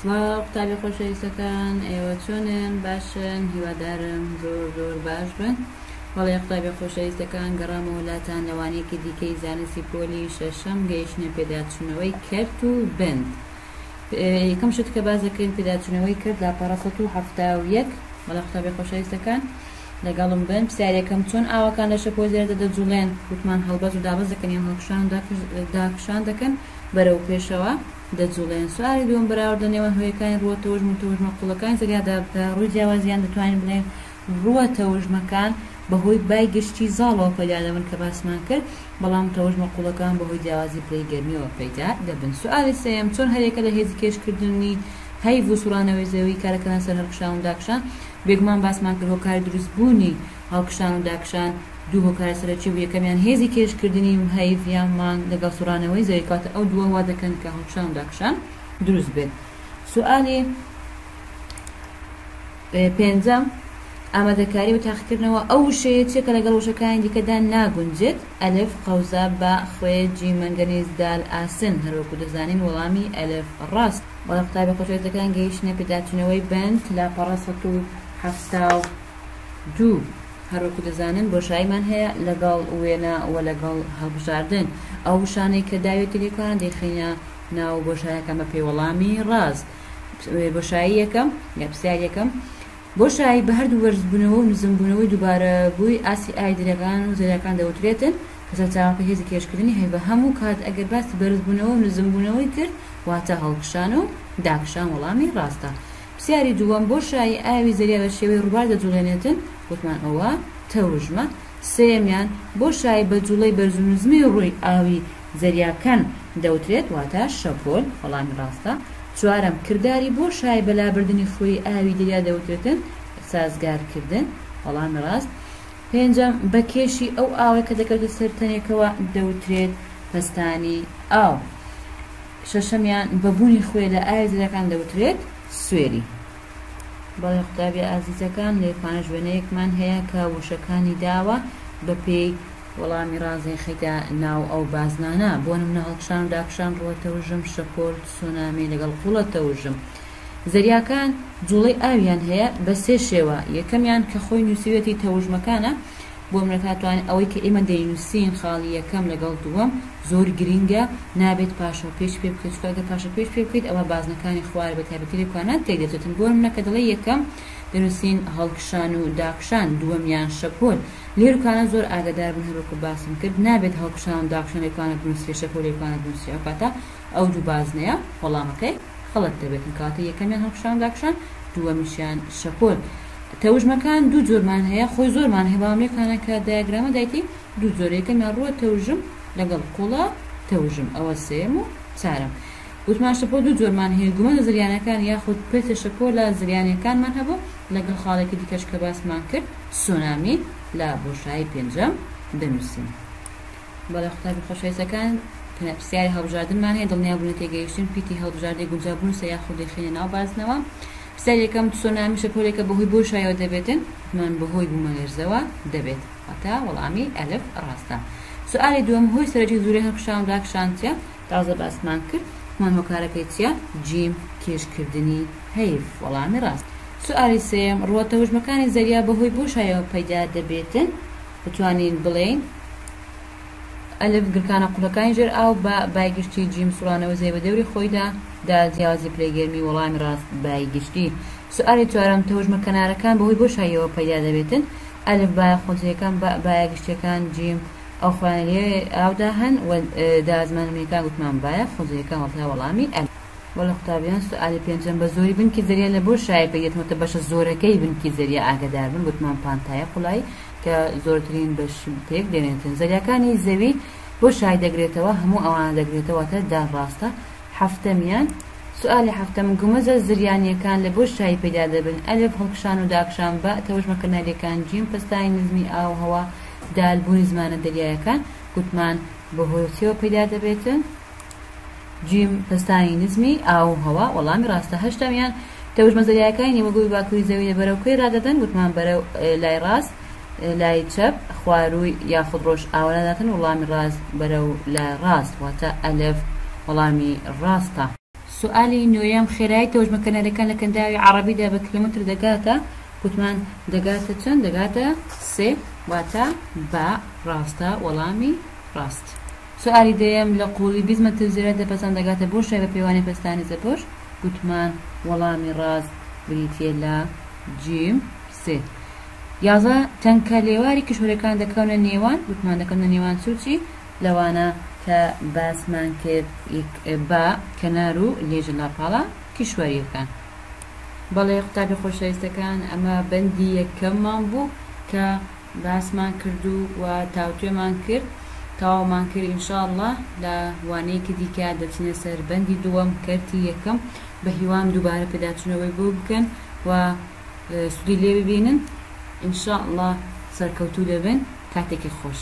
سڵاو قوتابی خۆشەویستەکان ئێوە چۆنن باشن هیوادارم زۆر زۆر باش بن بەڵێ قوتابی خۆشەویستەکان گەڕامە وڵاتان لەوانەیەکی دیکەی زانستی پۆلی شەشەم گەیشتە پێداچوونەوەی کەرت و بند یەکەم شت کە باز دەکەین پێداچوونەوەی کرد لاپەڕە 1970 بەڵێ قوتابی خۆشەویستەکان لەگەڵم بن پرسیارێکم چۆن ئاوەکان لە شەپۆ زێردە دەجوڵێن؟ گوتمان هەڵبەز و دابەز دەکەن یان هەڵکشان و داکشان دەکەن بەرەو پێشەوە دەجوڵێن. سوالی دووەم بەراوردە نێوان هۆیەکانی ڕووە تەوژم و تەوژمە قوڵەکانی زەریادا بکە. ڕووی جیاوازیان دەتوانین بڵێین ڕووە تەوژمەکان بەهۆی بای گشتی زاڵەوە پەیدا دەبن کە باسمان کرد بەڵام تەوژمە قوڵەکان بەهۆی جیاوازی پلەی گەرمیەوە پەیدا دەبن. سوالی سێیەم چۆن هەریەکە لە هێزی کێشکردنی هەیڤ و سوڕانەوەی زەوی کارئەکەنە سەر هەڵکشان و داکشان؟ بێگومان باسمان کرد هۆکاری دروست بوونی هەڵکشان و داکشان دوو هۆکارە سەرەکی بوو یەکەمیان هێزی کێش کردنی و هەیڤ یان مانگ لەگەڵ سوڕانەوەی زەوی کەواتە ئەو دووە وا دەکەن کە هەڵکشان و داکشان دروست بێت سوالی پێنجەم ئامادەکاری و تاقیکردنەوە ئەو وشەیە چێ کە لەگەڵ وشەکانی دیکەدا ناگونجێت ئەلف قەوزە بە خوێ جی مەنگەنیز دال ئاسن هەروەکو دەزانین وەڵامی ئەلف ڕاست بەڵێ قوتابی خۆشەویستەکان گەیشتنە پێداچوونەوەی بەند لاپەڕە سەد و حەفتا و دوو هەروەکو دەزانن بۆشاییمان هەیە لەگەڵ وێنە و لەگەڵ هەڵبژاردن ئەو وشانەی کە داوێتی لێ کۆنا دەیخەینە ناو بۆشاییەکان بە پێوەڵامی ڕاست بۆشایی یەکەم یا پرسیار یەکەم بۆشایی بە هەردوو بەرزبوونەوە و نزمبوونەوەی دووبارە بووی ئاستی ئاوی دەریاکان و زەریاکان دەوترێتن کە سەرچاوەکەی هێزی کێشکردنی هەیڤە هەموو کات ئەگەر باسی بەرزبوونەوە و نزمبوونەوەی کرد واتە هەڵکشان و داکشان وەڵامی ڕاستە پرسیاری دووەم بۆشایی ئاوی زەریا بە شێوەی ڕووبار دەجوڵێنێتن وتمان ئەوە تەوژمە سێیەمیان بۆشایی بە جوڵەی بەرزونزمی ڕووی ئاوی زەریاکەن دەوترێت واتە شەپۆل، وەڵامی ڕاستە. چوارەم، کرداری بۆ شای بەلابردنی خوری ئاوی دەریا دەوترێتن، سازگارکردن، وەڵامی ڕاست. پێنجەم، بە کێشی ئەو ئاوەی کە دەکەوێتە سەر تەنێکەوە دەوترێت پەستانی ئاو. شەشەمیان، بە بوونی خوێ لە ئاوی زەریاکان دەوترێت سوێری. بەڵێ قوتابیە ئازیزەکان، لێرپانەش وێنەیەکمان هەیە کە وشەکانی داوە بە پێی وەڵامی ڕاست دەیخەیتە ناو ئەو بازنانە، بۆ نمونە هەڵکشان و داکشان، ڕووە تەوژم، شەپۆل، تسونامی، لەگەڵ قوڵە تەوژم. زەریاکان جوڵەی ئاویان هەیە بە سێ شێوە، یەکەمیان کە خۆی نوسیویەتی تەوژمەکانە، بۆ نمونە تاتوانێت ئەوەی کە ئێمە دەینوسین خاڵی یەکەم لەگەڵ دووەم زۆر گرینگە نابێت پاشەو پێچ پێبکەیت چونکە ئەگەر پاشەو پێچ پێبکەیت ئەوا بازنەکانی خوارە بە تایبەتی لە کوانان تێکدەچێتن بۆ نمونە کە دەڵێی یەکەم دەنوسین هەڵکشان و داکشان دووەمیان شەپۆل لیروکانە زۆر ئاگەداربن هەروەکو باسم کرد نابێت هەڵکشان و داکشان لیروکانە بنوسرێت شەپۆل لیروکانە بنوسرێت ئەوکاتە ئەو دوو بازنەیە وەڵامەکەی خەڵەت دەبێت ئەوکاتە یەکەمیان هەڵکشان و داکشان دووەمیشیان شەپۆل تەوژمەکان دوو جۆرمان هەیە خۆی زۆرمان هەیە بەڵام لێکانە کە دایەگرامە دایتی دوو جۆرە یەکەمیان ڕووە تەوژم لەگەڵ قوڵە تەوژم ئەوە سێم و چارەم وتمان شەپۆ دوو جۆرمان هەیە، گومەزە زریانەکان یاخود پرتە شەپۆلە زریانەکانمان هەبوو، لەگەڵ خاڵێکی دیکەش کە باسمان کرد سونامی لە بۆشایی پێنجەم دەنووسین. بەڵێ قوتابی خۆشەویستەکان پرسیاری هەڵبژاردنمان هەیە، دڵنیابوونی تێگەیشتن پیتی هەڵبژاردەی گونجاو بنووسە یاخود دەیخەینە ناو بازنەوە. پرسیاری یەکەم، تسونامی شەپۆلێکە بەهۆی بۆشایەوە دەبێت؟ وتمان بەهۆی بوومەلەرزەوە دەبێت، واتە وەڵامی ئەلف ڕاستە. سوئالی دووەم، هۆی سەرەکی زورەی هەڵکشان و داکشان چیە؟ تازە باسمان کرد هەمان هۆکارەکەی چیە؟ جیم، کێش کردنی هەیڤ وەڵامی ڕاست. سوئالی سێیەم، ڕووە تەوژمەکانی زەریا بەهۆی بۆشایەوە پەیدا دەبێتن؟ بتوانین بڵێین ئەلف گڕکانە قوڵەکانی ژێر ئاو با بای گشتی جیم سوڕانەوەی زەوی بە دەوری خۆیدا دال جیاوازی پلەی گەرمی وەڵامی ڕاست بای گشتی. سوئالی چوارەم، تەوژمە کەنارەکان بەهۆی بۆشاییەوە پەیدا دەبێتن؟ ئەلف بایە خۆجێیەکان با بایە گشتیەکان جیم. ئەو خۆیان لێ ئاودا هەن و دا زمانە میەکان گوتمان بایە خۆزەیەکان وەڵتا وەڵامی ئەل. وەلە قوتابیان سوئالی پێنجەم بە زۆری بنکی زەریا لە بۆ شایە پێک دێتەوە تە بەشە زۆرەکەی بنکی زەریا ئاگەدار بن گوتمان پانتایە قوڵایی کە زۆرترین بەش پێک دێنێتن زەریاکانی زەوی بۆ شای دەگرێتەوە هەموو ئەوانە دەگرێتەوە واتە دا ڕاستە حەفتەمیان سوئالی حەفتەم گومەزە زریانیەکان لە بۆ شای پەیدا دەبن ئەلف هەڵکشان و داکشان باء تەوژمە کەناریەکان جیم پەستانی نزمی ئاو هەوا دال بوونی زمانە دەریایەکە گوتمان بە هۆی چیەوە پەیدا دەبێت؟ جیم پەستانی نزمی ئاو و هەوا وەڵامی ڕاستە هەشتەمیان تەوژمە زەریاکانی نیوەگۆی باکووری زەوی لە بەرەو کوێ ڕادەدەن گوتمان بەرە لای ڕاست لای چەپ خوارووی یاخود ڕۆژ ئاوەداتن وڵامی ڕاست بەرەو لە ڕاست واتە ئەلف وەڵامی ڕاستە. سوالی نۆیەم، خێرایی تەوژمەکەنەرەکان لە کەنداوی عەڕەبیدا بە کیلۆمەتر دەگاتە؟ گوتمان دەگاتە چەند؟ دەگاتە سێ، واتە با ڕاستە وەڵامی ڕاست. سوالی دەیەم، لە قووڵی بیست مەتر زیاتر پەستان دەگاتە بۆ شای بە پێوانەی پەستانی زەبۆش؟ گوتمان وەڵامی ڕاست بریتییە لە جیم سێ. یازدە، تەنکە لێواری کیشوەرەکان دەکەونە نێوان؟ گوتمان دەکەونە نێوان چ و چی؟ لەوانە کە باسمان کرد با کەنار و لێژە لاپاڵە کیشوەریەکان. بەڵێ قوتابی خۆشەویستەکان ئەمە بەندی یەکەممان بوو کە باسمان کرد و و تاوتوێمان کرد تەواومان کرد ئینشاءاللە لە وانەیەکی دیکە دەچینە سەر بەندی دووەم کەرتی یەکەم بە هیوام دووبارە پێداچوونەوەی بۆ بکەن و سودی لێ ببینن ئینشاءاللە سەرکەوتوو دەبن کاتێکی خۆش.